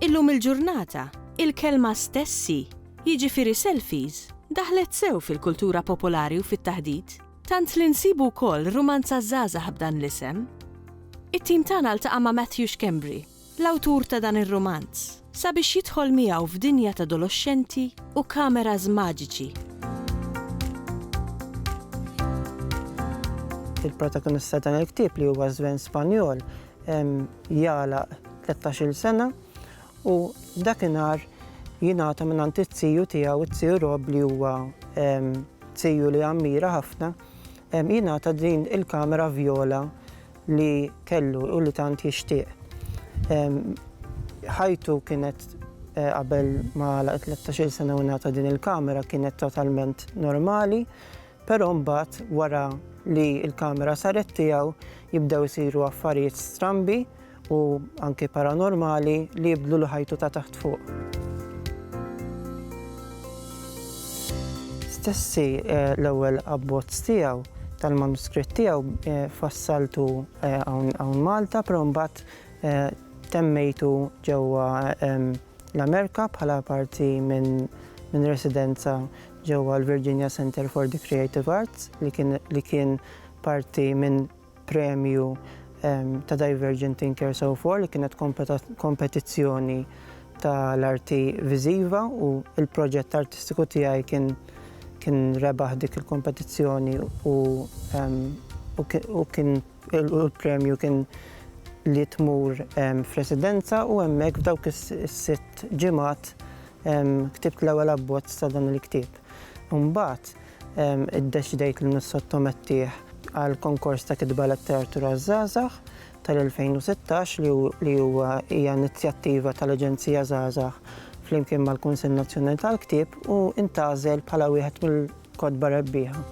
Illum il-ġurnata, il-kelma stessi, jiġifieri selfies, daħlet sew fil-kultura popolari u fit-taħdit. Tant li nsibu wkoll rumanza żgħażagħ b'dan l-isem. It-tim tagħna ltaqa' ma' Matthew Schembri, l-awtur ta' dan ir-rumanz, sabiex jidħol miegħu f'dinja t'adoloxxenti u kameras maġiċi. Il-protagonista ta' dan il-ktieb li huwa żwen Spanjol jagħlaq tlettax-il sena U dakinhar jingħata mingħand it-tiju tiegħu, it-tiju Rob li huwa tiju li ammira ħafna, jingħata din il-kamera vjola li kellu u li tant jixtieq. Ħajtu kienet qabel ma għalaq it-tlettax-il sena u ngħata din il-kamera kienet totalment normali. Però mbagħad wara li l-kamera saret tiegħu jibdew isiru affarijiet strambi u anki paranormali li jibdlulu ħajtu ta' taħt fuq. Stessi l-ewwel abbozz tiegħu tal-manuskritt tiegħu fassaltu hawn Malta però mbagħad temmejtu ġewwa l-Amerika bħala parti minn residenza ġewwa l-Virginia Centre for the Creative Arts li kien parti minn premju ta' Divergent Thinkers of War li kienet kompetizzjoni tal-arti viżiva u l-proġett artistiku tiegħi kien rebaħ dik il-kompetizzjoni u l-premju kien li tmur f'residenza u hemmhekk f'dawk is-sitt ġimgħat Ktibt l-ewwel abbozz ta' dan il-ktieb. Imbagħad iddeċidejt li nissottomettih għal konkors ta' kitba letteratura għaż-żgħażagħ tal-2016 li huwa hija inizjattiva tal-Aġenzija Żgħażagħ flimkien mal-Kunsill Nazzjonali tal-Ktieb u intgħażel bħala wieħed mill-kotba rebbieħa.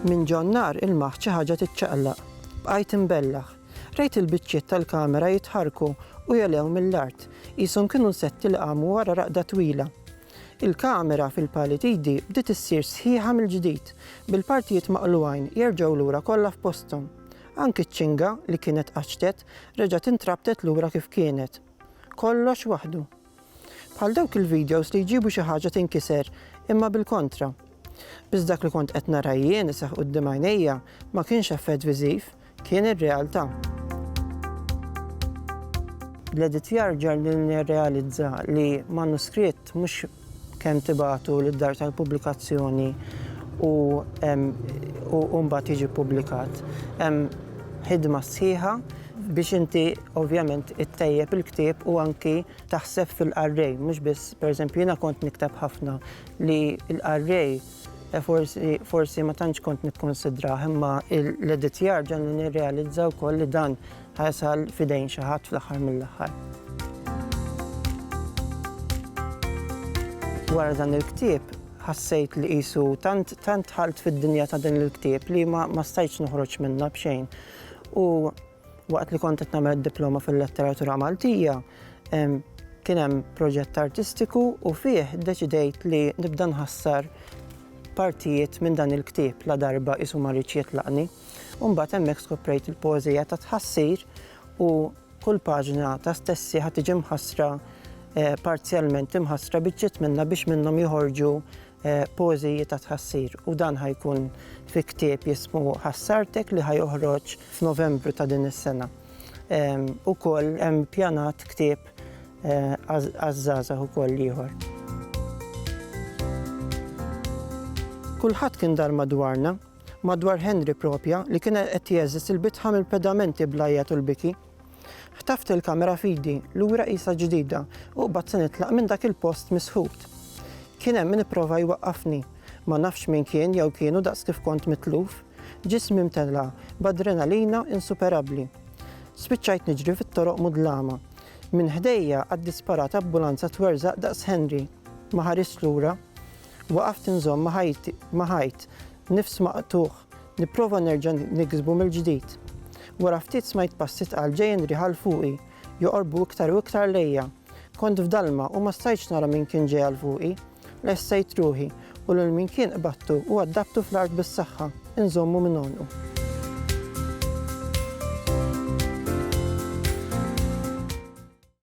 Minn Ġonnar il-Magħħ xi ħaġa tiċċaqlaq. Bqajt imbellah. Rajt il-biċċiet tal-kamera jitħarrku u jogħlew mill-art, qishom kienu nsetti li qamu wara raqda twila. Il-kamera, fil-pali t'idi, bdiet issir sħiħa mill-ġdid, bil-partijiet maqlugħin jerġgħu lura kollha f'posthom. Anki ċ-ċinga, li kienet qaċċtet, reġgħet intrabtet lura kif kienet. Kollox waħdu. Bħal dawk il-videos li jġibu xi ħaġa tinkiser imma bil-kontra. Biss dak li kont qed nara jien iseħħ quddiem għajnejja ma kienx effett viżiv, kien ir-realtà. L-editjar ġarni nirrealizza li manuskritt mhux kemm tibatu lid-dar tal-pubblikazzjoni u mbagħad jiġi ppubblikat. Hemm ħidma sħiħa biex inti ovvjament ittejjeb il-ktieb u anki taħseb fil-qarrej, mhux biss pereżempju jiena kont nikteb ħafna li l-qarrej eh, forsi, forsi ma tantx kont nikkonsidrah imma l-editjar ġan nirrealizza wkoll li dan ħajasal fidejn xi ħadd fl-aħħar mill-aħħar. Wara dan il-ktieb ħassejt li qisu tant tant ħalt fid-dinja ta' din il-ktieb li ma, ma stajtx noħroġ minnha b'xejn. U Waqt li kont qed nagħmel id-Diploma fil-Letteratura Maltija, kien hemm proġett artistiku u fih ddeċidejt li nibda nħassar partijiet minn dan il-ktieb la darba qisu ma riedx jitlaqni. U mbagħad hemmhekk skoprejt il-poeżija ta' tħassir u kull paġna ta' stessi ħa tiġi mħassra eh, parzjalment imħassra biċċiet minnha biex minnhom joħorġu poeżiji ta' tħassir u dan ħa jkun fi ktieb jismu Ħassartek li ħa joħroġ f'Novembru ta' din is-sena. Ukoll hemm pjanat ktieb għaż-żgħażagħ ukoll ieħor. Kulħadd kien dar madwarna, madwar Henry propja li kien qed jeżżis il-bitħa mill-pedamenti bl-għajjat u l-biki. Ħtaft il-kamera f'idi, lura qisha ġdida, u qbad se nitlaq minn dak il-post misħut. Kien hemm min ipprova jwaqqafni. Ma nafx min kien jew kienu daqs kif kont mitluf. Ġismi mtella' b'adrenalina insuperabbli. Spiċċajt niġri fit-toroq mudlama. Minn ħdejja għaddi sparat abbulanza twerżaq daqs Henry. Ma ħarist lura. Waqaft inżomm ma' ħajti, ma' ħajt, nifs maqtugħ. Nipprova nerġa' niksbu mill-ġdid. Wara ftit smajt passi tqal ġejjin riħa 'l fuqi, joqorbu iktar u iktar lejja. Kont f'dalma u ma stajtx nara min kien ġej għal fuqi. Lessejt ruħi u lil min kien qbadtu u għaddabtu fl-art bis-saħħa, inżommu minn għonqu.